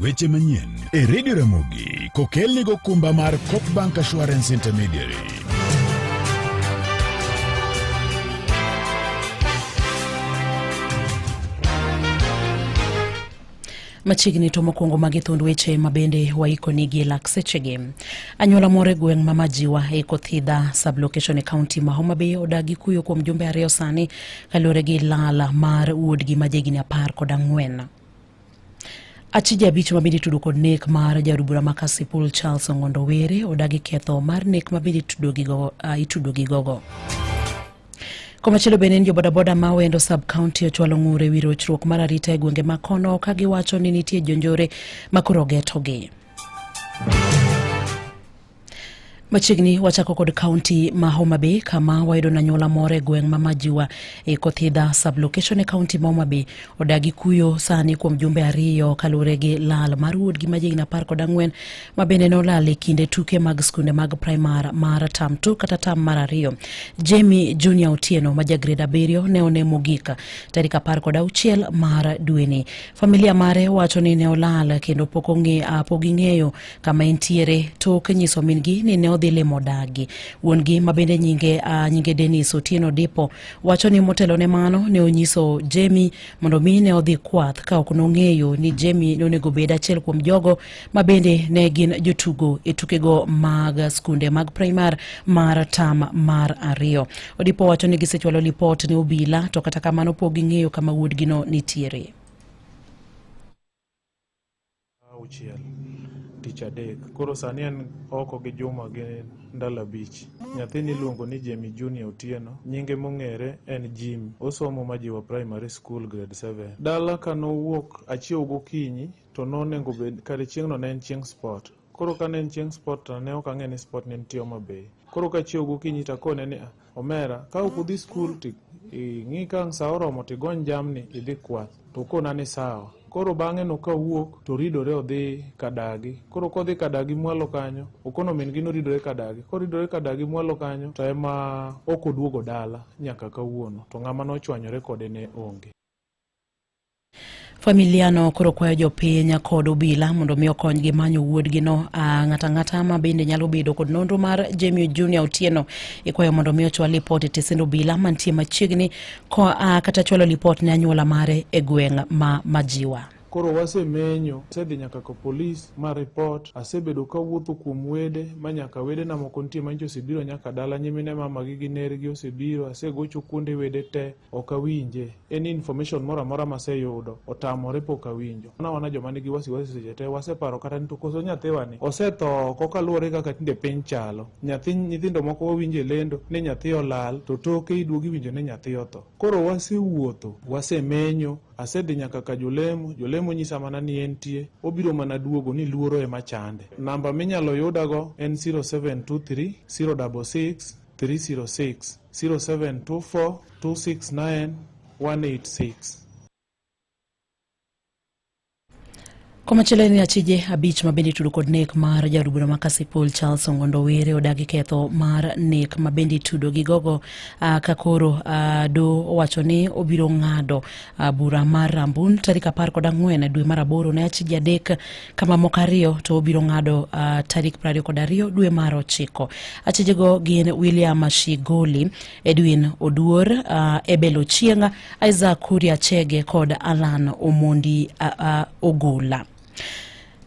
Weche manyien e redio Ramogi kokelni gokumba mar Copbank Assurance Intermediary. machiegni to mokwongo magi thund weche ma bende waikonigi lak sechegi anyuola moro e gweng' ma majiwa e kothidha sublocation e kaunti ma homabay odagi kuyo kuom jumbe ariyo sani Kaluwore gi lala mar wuodgi ma jahigni apar kod ang'wen achije abich ma bende itudo kod nek mar jaod bura ma Kasipul Charles Ong'ondo Were odagi ketho mar nek ma bende itudo gi gogo. Komachielo bende ni jobodaboda ma wendo sub county ochwalo ng'ur e wi rochruok mar arita e gwenge ma kono ka giwacho ni nitie jonjore ma koro getogi. Machiegni wachako kod kaunti ma Homa Bay kama wayudo na nyuola moro e gweng' ma Majiwa e Kothidha sublocation e kaunti ma Homa Bay odagi kuyo sani kuom jumbe ariyo kaluwore gi lal mar wuodgi ma jahigni apar kod ang'wen ma bende nolal e kinde tuke mag skunde mag primar mar tam tu kata tam mar ariyo. Jamie Junior Otieno ma ja grade abiriyo ne one mogik tarik apar kod auchiel mar dweni. Familia mare wacho ni ne olal kendo pok ong'e pok ging'eyo kama entiere tok nyiso min-gi ni ne odhi limo dagi. Wuon-gi ma bende nyinge, uh, nyinge Dennis Otieno Dipo wacho ni motelo ne mano ne onyiso Jemi mondo mi ne odhi kwath ka ok nong'eyo ni Jemi ne onego bed achiel kuom jogo ma bende ne gin jotugo e tukego mag skunde mag primar mar tam mar ariyo. Odipo wacho ni gisechwalo lipot ne obila to kata kamano pok ging'eyo kama wuodgino nitiere. Saa auchiel tich adek. Koro sani en oko gi juma gi ndalo abich. Nyathini iluongo ni Jamie Junior Otieno. Nyinge mong'ere en Jimmy. Osomo Majiwa Primary School Grade 7. Dala ka nowuok achiew gokinyi to nonengo bed kare chieng'no ne en chieng' sport. Koro kane en chieng' sport to ne ok ang'e ni sport ne nitie Homa Bay. Koro kachiewo gokinyi to akone ni omera ka ok udhi skul to ing'i ka ang' sa oromo to igony jamni idhi kwath. To okona ni sawa. Koro bang'e no kawuok to oridore odhi kadagi. Koro kodhi kadagi mwalo kanyo, okono min gi noridore kadagi. Koridore kadagi mwalo kanyo to ema ok oduogo dala nyaka kawuono. To ng'ama nochwanyore kode ne onge. Familiano koro kwayo jopiny kod obila mondo mi okonygi manyo wuodgino. Ng'ato ang'ata ma bende nyalo bedo kod nonro mar Jemio Junior Otieno ikwayo mondo mi ochwal lipot e tesend obila mantie machiegni kata chwalo lipot ne anyuola mare e gweng' ma Majiwa. Koro wasemenyo, asedhi nyaka ka polis ma report, asebedo kawuotho kuom wede ma nyaka wedena moko nitie manyicha osebiro nyaka dala, nyimine mamagi gi nergi osebiro, asegocho kuonde wede te. ok awinje any information moro amora maseyudo otamore pok awinjo wana wana joma nigi wasiwasi seche te waseparo kata ni to koso nyathiwa ni osetho koka luwore kaka tinde piny chalo nyathi nyithindo moko wawinjo e lendo ni nyathi olal to toke iduogi winjo ni nyathi otho koro wasewuotho wasemenyo asedhi nyaka ka jolemo jolemo nyisa mana ni entie obiro mana duogo ni luoro ema chande namba minyalo yudago en 0723 066 306 0724 269 186. komachielo en ni achije abich ma bende itudo kod nek mar jaod bura ma kasipul charles ongondo were odagi ketho mar nek ma bende itudo gi gogo uh, ka koro uh, do owacho ni obiro ng'ado uh, bura mar rambun tarik apar kod ang'wen dwe mar aboro ne achije adek kama moko ariyo to obiro ng'ado uh, tarik prariyo kod ariyo dwe mar ochiko achijego gin william shigoli edwin oduor uh, ebel ochienga isaac kuria chege kod alan omondi uh, uh, ogola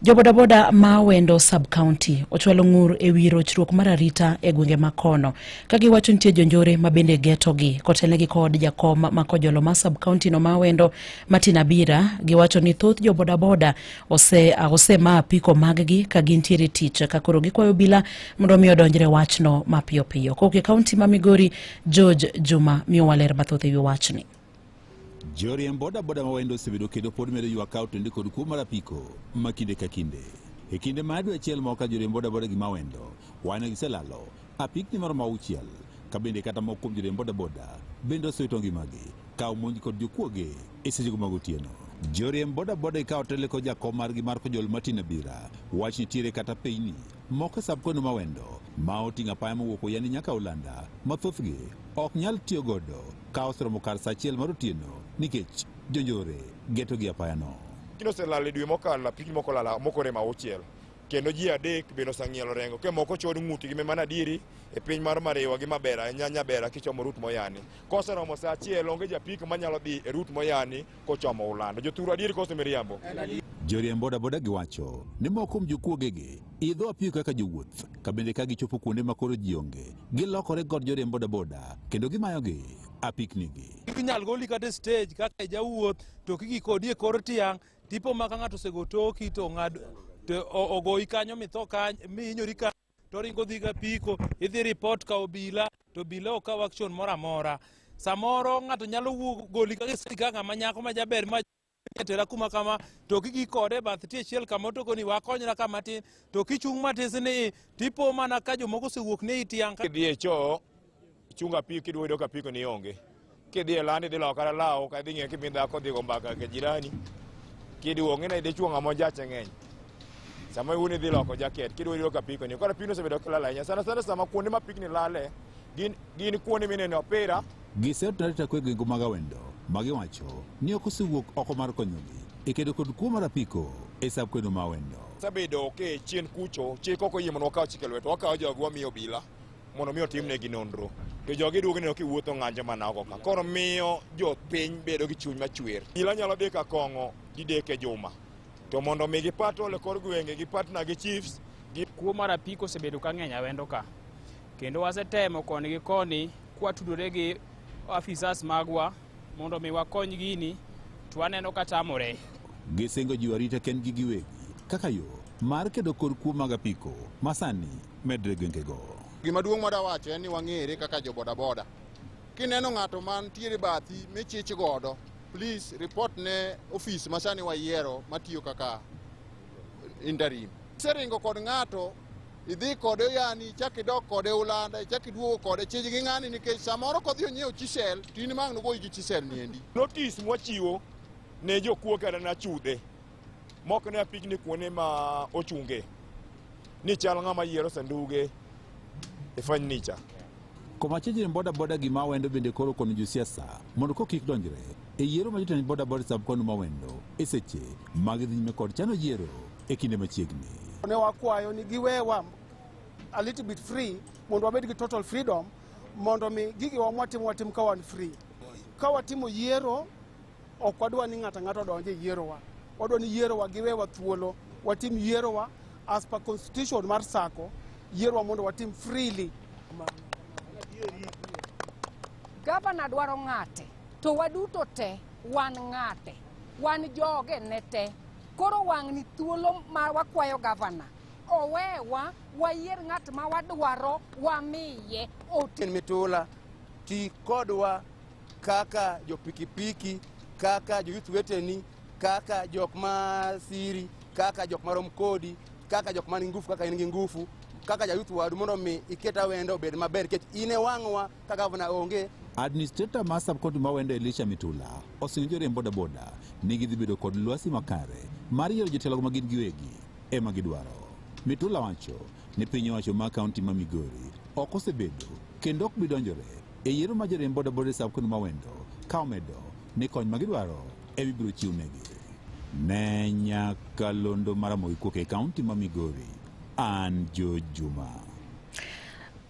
Jobodaboda ma wendo sub county ochwalo ng'ur e wi rochruok mar arita e gwenge ma kono ka giwacho nitie jonjore ma bende getogi kotelnegi kod jakom ma kojolo ma sub county no ma wendo Martin Abira giwacho ni thoth jobodaboda ose osemaa piko maggi ka gintiere tich ka koro gikwayo bila mondo mi odonjre wachno mapiyo piyo. Kowuok e kaunti ma Migori, George Juma miyo waler mathoth ewi wachni. Joriemb bodaboda ma wayendo osebedo kendo pod medo ywak ka otende kod kuo mar apiko ma kinde ka kinde. E kinde ma adwe achiel moko ka joriemb bodaboda gi mawendo wayno giselalo apikni maromo auchiel ka bende kata moko kuom joriemb bodaboda bende osewito ngimagi ka omonj kod jokuoge e sechego mag otieno joriemb bodaboda ikawo tele ko jakom margi mar kojol martin abira wach nitiere kata pinyni moko e sab kweno mawendo ma oting'o apaya mowuok oyani nyaka olanda ma thothgi ok nyal tiyo godo ka oseromo kar sa achiel mar otieno nikech jonjore geto gi apayano Kino oselal e dwe mokalo, apigni moko lala, moko rem auchiel. kendo ji adek bende oseng'ielo rengo ke moko chod ng'utgi me mana diri e piny mar mariwa gi mabera e nyanya bera kichomo rut moyani koseromo saa achiel onge japik manyalo dhi e rut moyani kochomo ulando jothuru adieri kose miriambo Joriemb bodaboda giwacho ni moko kuom jokuogegi idho apiko kaka jowuoth ka bende ka gichopo kuonde ma koro ji onge gilokore kod joriemb bodaboda kendo gimayogi apiknigi. inyal goli kata e stage kaka e jawuoth to kigi kodi e kor tiang' Tipo ma ka ng'ato osego toki to ng'ad to o- ogoyi kanyo mitho kanyo mihinyori kanyo to ringo dhi ga piko idhi report ka obila to obila ok kaw action moro amora samoro ng'ato nyalo wuog goli ka giseri ka ng'ama nyako ma jaber ma tera kuma kama to kigi kode bath tie chiel kama to koni wakonyra kama tin to kichung' matis ni tipo mana ka jomoko osewuok ne itiang' ka dhi e choo Chungo apiko kidwa yudo ka apiko ni onge. Kidhi e landi idhi lawo kata lawo ka idhi ng'e kimi dhako dhi go mbaka ka jirani. Kiduo ng'e na idhi chuo ng'ama ojache ng'eny. Sama iwuni idhi loko jaket kidwa yudo ka apiko ni. Koro apiko osebedo kilala ahinya. Sana sana sama kuonde ma apikni lale gin gin kuonde minene opira. Gisero tarita kwe gi nguma gawendo ma giwacho ni ok osewuok oko mar konyogi e kedo kod kuo mar apiko e sab kwedo ma wendo. Sabedo ke chien kucho chik ok oyie mondo wakaw chike lweto wakaw jogi wamiyo obila. mondo mi otimnegi nonro to jogi duogo neno kiwuotho ng'anjo mana oko ka koro miyo jopiny bedo gi chuny machwer ila nyalo dek akong'o didek e juma to mondo mi gipatol e kor gwenge gipatna gi chiefs kuo mar apiko osebedo ka ng'eny awendo ka kendo wasetemo koni gi koni kwatudore gi afisas magwa mondo mi wakony gini to waneno ka tamore gisingo jiwo arita kendgi giwegi kaka yo mar kedo kod kuo mag apiko masani medre gwengego. Gima duong' mwada wacho en ni wang'ere kaka jo bodaboda. Kineno ng'ato mantiere bathi michich godo, please report ne ofis masani wayiero matiyo kaka interim. Seringo kod ng'ato idhi kode yani ichak idok kode ulanda ichak iduogo kode chij gi ng'ani nikech samoro kodhi onyiewo chisel to in mang' nogoyi gi chisel niendi. Notis mwachiwo ne jokuo kata nachudhe Mok ne apigni kuonde ma ochunge ni chal ng'ama yiero sanduge e fanicha. Komachiegni ni boda boda gi mawendo bende koro kono josiasa mondo ko kik donjre e yiero ma jotend boda boda sab kono mawendo e seche mag dhi nyime kod chano yiero e kinde machiegni. Ne wakwayo ni giwewa a little bit free mondo wabed gi total freedom mondo mi gigiwa mwatimo watim ka wan free. Ka watimo yiero Ok wadwa ni ng'ato ang'ato odonje e yierowa. Wadwa ni yierowa giwewa thuolo. Watim yierowa as per constitution mar sako. Yierowa mondo watim freely. Gavana dwaro ng'ate to waduto te wan ng'ate. Wan joge ne te. Koro wang'ni thuolo ma wakwayo gavana owewa wayier ng'at ma wadwaro wamiye oti. Mitula ti kodwa kaka jopikipiki kaka joyuth weteni kaka jok ma siri kaka jok marom kodi kaka jok man gi ngufu kaka in gi ngufu kaka jayuth wadu mondo mi iket awendo obed maber nikech in e wang'wa ka gavana onge Administrator ma subcounty ma Wendo Elisha Mitula osingo joriemb bodaboda ni gidhi bedo kod lwasi makare mar yiero jotelogo ma gin giwegi ema gidwaro. Mitula wacho ni piny owacho ma kaunti ma Migori ok osebedo kendo ok bi donjore E yiero ma joriemb bodaboda e Sub County ma Wendo ka omedo ni kony ma gidwaro ema ibiro chiwnegi. Ne nyakalondo mar Ramogi Kuok e kaunti ma Migori, an Jo Juma.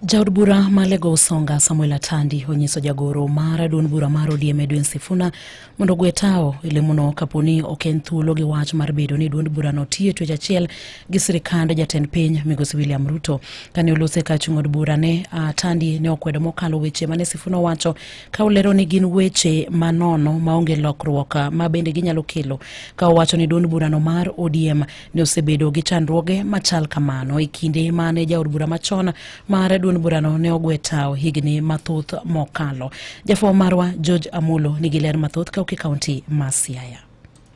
Jaod bura ma Lego Usonga Samuel Atandi onyiso jagoro mar duond bura mar ODM Edwin Sifuna mondo ogwe tawo e lemono kapo ni ok en thuolo gi wach mar bedo ni duond burano tiyo e twech achiel gi sirikand jatend piny migosi William Ruto. Kane olose ka chung' od bura ne uh, Tandi ne okwedo mokalo weche mane Sifuna owacho ka olero ni gin weche manono maonge lokruok ah, ma bende ginyalo kelo ka owacho ni duond burano mar ODM ne osebedo gi chandruoge machal kamano e kinde mane jaod bura machon mar duond burano ne ogwe tawo higni mathoth mokalo. Jafwambo marwa George Amulo nigi ler mathoth kauki kaunti ma Siaya.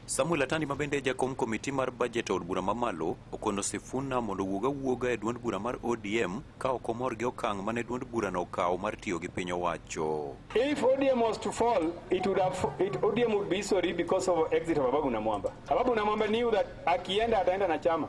Samuel Atandi ma bende jakom komiti mar bajet od bura mamalo okono Sifuna mondo wuog awuoga e duond bura mar ODM ka ok omor gi okang' mane duond burano okawo mar tiyo gi piny owacho. If ODM was to fall, it would have, it, ODM would be sorry because of exit of Ababu Namwamba. Ababu Namwamba knew that akienda ataenda na chama.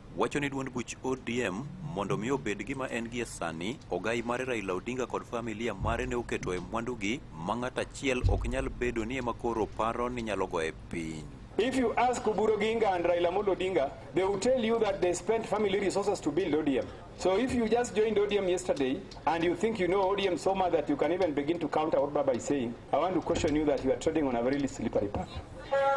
wacho ni duond buch ODM mondo mi obed gima en gie sani, ogai mare Raila Odinga kod familia mare ne oketo e mwandugi ma ng'at achiel ok nyal bedo ni ema koro paro ni nyalo goye piny. If you ask Kuburo Ginga and Raila Amolo Odinga, they will tell you that they spent family resources to build ODM. So if you just joined ODM yesterday and you think you know ODM so much that you can even begin to counter what Baba is saying, I want to caution you that you are treading on a very slippery path.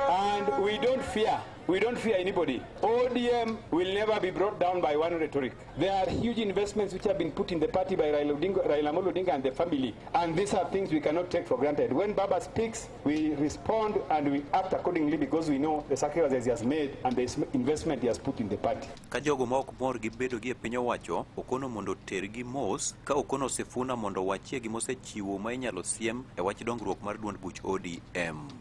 And we don't fear We don't fear anybody. ODM will never be brought down by one rhetoric. There are huge investments which have been put in the party by Raila Odinga, Raila Amolo Odinga and the family. And these are things we cannot take for granted. When Baba speaks, we respond and we act accordingly because we know the sacrifices he has made and the investment he has put in the party. Ka jogo ma ok mor gi bedo gi e piny owacho, Okono mondo tergi mos ka Okono osefuna mondo wachie gima osechiwo ma inyalo siem e wach dongruok mar duond buch ODM.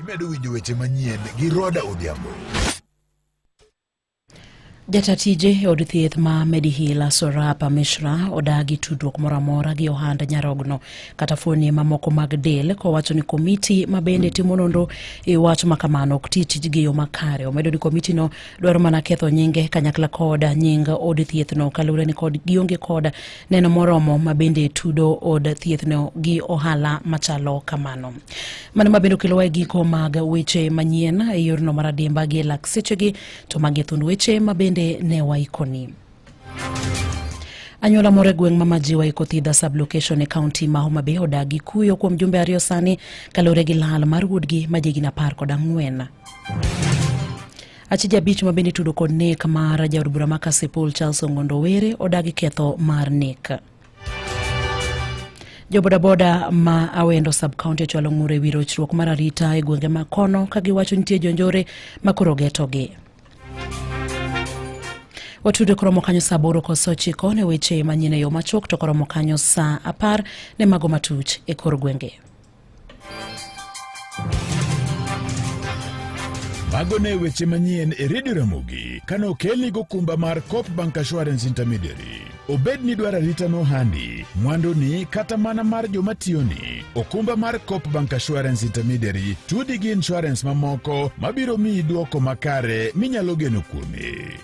Imedo winjo weche manyien gi Roda Odhiambo. Jatatije e od thieth ma Medihila Sorapa Mishra odagi tudruok moro amora gi ohand nyarogno kata fuoni mamoko mag del kowacho ni komiti ma bende timo nonro e wach ma kamano ok ti tijgi yo makare. Omedo ni komitino dwaro mana ketho nyinge kanyakla kod nying od thiethno kaluwore ni kod gionge kod neno moromo ma bende tudo od thiethno gi ohala machalo kamano. Mano ma bende okelowa e giko mag weche manyien e yorno mar adimba gi lak sechegi to magi thund weche ma bende ne waikoni. Anyuola moro e gweng' ma Majiwa iko Thidha sublocation e kaunti ma Homa Bay odagi kuyo kuom jumbe ariyo sani kaluwore gi lal mar wuodgi ma jigni apar kod ang'wen. Achije abich ma bende itudo kod nek mar jaod bura ma Kasipul Charles Ongondo Were odagi ketho mar nek. Jobodaboda ma Awendo sub county ochwalo ng'ur e wi rochruok mar arita e gwenge ma kono ka giwacho nitie jonjore ma koro getogi. Watudo koromo kanyo saa aboro kod saa ochiko ne weche manyien e yo machuok to koromo kanyo saa apar ne mago matuch e kor gwenge. Mago ne weche manyien e redio Ramogi kane okelni gokumba mar Coop Bank Assurance Intermediary. Obed ni dwaro arita nohandi, mwanduni kata mana mar joma tiyoni, okumba mar Coop Bank Assurance Intermediary tudi gi insurance mamoko mabiro miyi dwoko makare minyalo geno kuome.